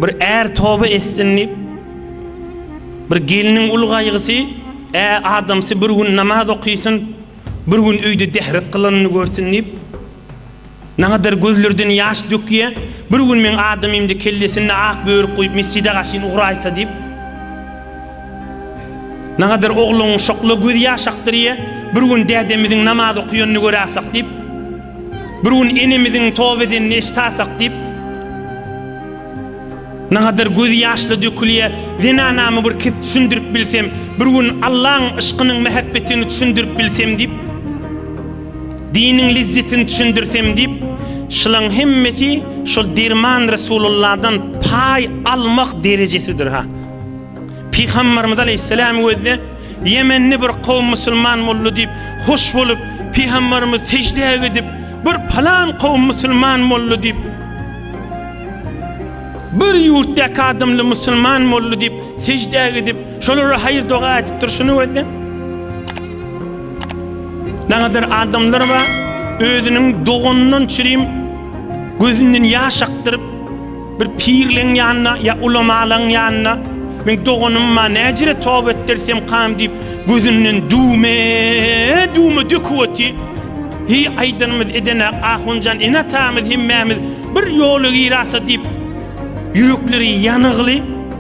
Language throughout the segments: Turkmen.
bir er toba etsin diýip bir geliniň ul gaýgysy ä adamsy bir gün namaz okysyn bir gün öýde dehret kylanyny görsün diýip Nagadar gözlerden ýaş dökýä, bir gün meň adamymdy kellesinde ak börük guýup mesjide gaşyn ugraýsa diýip. Nagadar ogluň şokla göz ýaş akdyrýa, bir gün dädemiziň namaz okuyanyny göräsek diýip. Bir gün enemiziň toba edenini eşitasak diýip. Nagadar göz ýaşla dökülýä, zenanamy bir kep düşündirip bilsem, bir gün Allaň yşkynyň mähebbetini düşündirip bilsem diýip. Diniň lezzetini düşündirsem diýip, şulaň hemmesi şol derman Resululladan paý almak derejesidir ha. Pygamberimiz aleyhisselam gözde Ýemenli bir kowum musulman boldy diýip, hoş bolup, pygamberimiz sejdä gidip, bir palan kowum musulman boldy diýip, bir ýurtdaky adamly musulman boldy diýip, sejdä gidip, Şolara haýyr doga aýdyp durşuna gözle. Nagadyr adamlar bar, özüniň doganyndan çirim gözünden ýaş akdyryp, bir pirleň ýanyna ýa ulamalaň ýanyna Men doganymma näjire toba etdirsem kam diýip, gözünden düwme, düwme döküp oty. Hi aýdanymyz edene ahunjan ene-atamyz hemmämiz bir ýola girasa diýip, ýürekleri ýanygly,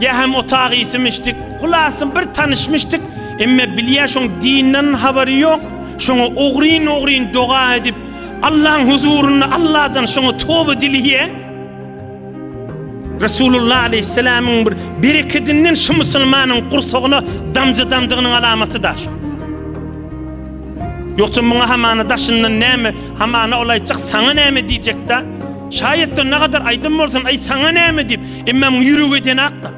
Ýa hem otag iýsimişdik. Hulasy bir tanyşmyşdyk. Emme bilýä şoň dinden habary ýok. Şoňa ogryn ogryn doga edip Allaň huzurynda Alladan şoňa toba dileýä. Resulullah aleýhissalamyň bir berekedinden şu musulmanyň gursagyna damja damdygynyň alamaty da şu. Ýogsa muňa hamana daşyndan näme, hamana ol aýtjak saňa näme diýjek da. Şaýatdan nagadar aýdym bolsun, aý saňa näme diýip. Emma muň ýüregi edenak-da.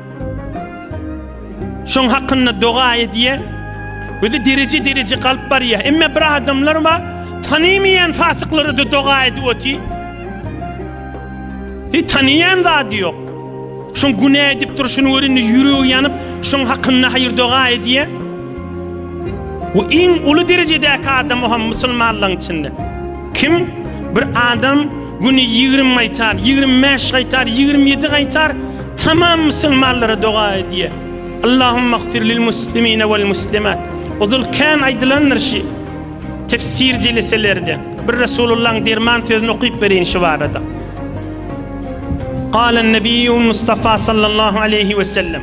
Şoň hakynda doga edýär. Özi dereje-dereje galyp barýar. Emma bir adamlar bar, tanymaýan fasyklara da doga edip oty. Hiç tanyýan zady ýok. Şoň günä edip durşuny görende ýüregi ýanyp, şoň hakynda haýyr doga edýär. Bu iň uly derejedäki adam hem musulmanlaryň içinde. Kim bir adam güni ýigrimi gaýtar, ýigrimi bäş gaýtar, ýigrimi ýedi gaýtar, tamam musulmanlara doga edýär. Allahumma gfir lil muslimine wal muslimat. Ozul kän aýdylandyr şi tefsir jeleselerde. Bir Resulullahyň derman sözüni okyp bereýin şu barada. Galan Nebiýul Mustafa sallallahu aleyhi we sellem.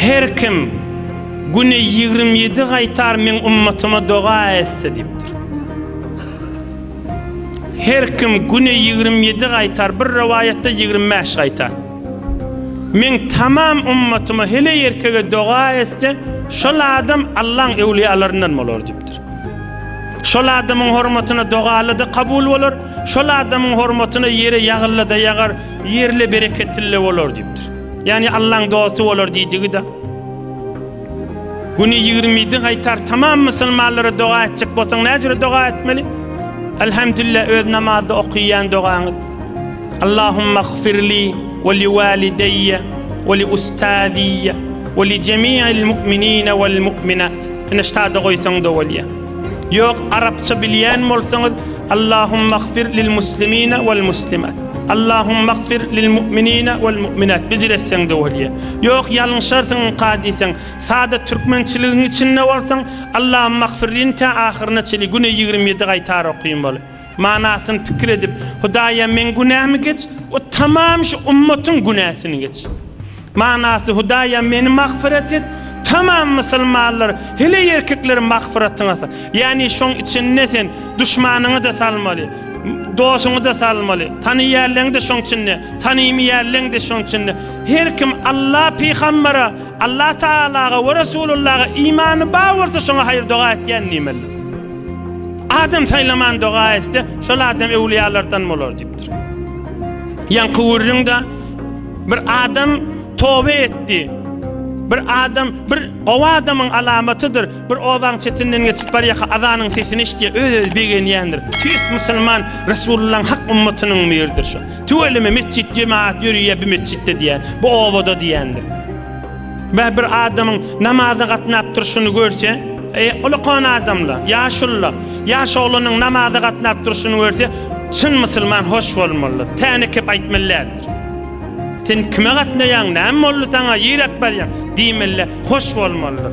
Her kim güne ýigrimi ýedi gaýtar meň ummatyma doga etse diýipdir. Her kim güne ýigrimi ýedi gaýtar, bir rowaýatda ýigrimi bäş gaýtar. Meň tamam ummatyma heleý ýerkege doga etse, şol adam Allaň öwliýalaryndan bolar diýipdir. Şol adamyň hormatyna dogaly-da kabul bolar, şol adamyň hormatyna ýere ýagyly-da ýagar. Ýerli bereketli bolar diýipdir. Ýagny Allaň dosty bolar diýdigi-de. Güni ýigrimi ýedi gaýtar tamam musulmanlara doga etjek bolsaň näce jüre doga etmeli? Elhamdülillah öz namazda okyýan dogaňyz. Allahumma gfirli we li walideýye we li ustaziyye we li jemi'il mu'minine we'l mu'minat. Ine şada goýsaň-da bolýar. Ýok arapça bilýän bolsaňyz Allahumagfir lil muslimina wal muslimat. Allahumagfir lil mu'minina wal mu'minat bijir etseň de bolýa. Ýok ýalňyşarsyň ynka diýseň, sada türkmençiligiň içinde bolsaň Allahumagfirlin tä ahyryna çenli güne ýigrimi ýedi gaýtar okyn bol. Manasyny pikir edip, Hudaýa meň günämi geç, o tamam şu ummatyň günäsini geç. Manasy Hudaýa meni magfyrat et, tamam musulmanlar, hele ýerkikleri magfyratyňa sal. Ýani şoň içinde sen duşmanyňy da salmaly. Dosuňy da salmaly. Tanyýanlaryňy da şoň içinde, tanymy ýerleň de şoň içinde. Her kim Allah pygambara Allah Tagalaga we Resulullaha imany bar bolsa şoňa haýyr doga etýän diýmelidir. Adam saýlaman doga etse, şol adam öwliýalardan bolar diýipdir. Ýaňky gürrüňde bir adam tobe etdi. Bir adam bir gowy adamyň alamatydyr. Bir obaň çetinden geçip barýaka azanyň sesini eşitýär, öz-özi begenýändir. Tüýs musulman Resulullaň hak ummatynyň biridir şu. Tüweleme metjit jemaat ýörüýä bi metjitde diýýä bu obada diýýändir. Bä bir adamyň namaza gatnap durşuny görse, e, ulakan adamla, ýaşulla, ýaş oglanyň namaza gatnap durşuny görse, çyn musulman hoş bolmalydyr. Täne kep aýtmalyädir. Sen kime gatnaýaň, näme boldy saňa, ýerek barýaň diýmeli, hoş bolmalydyr.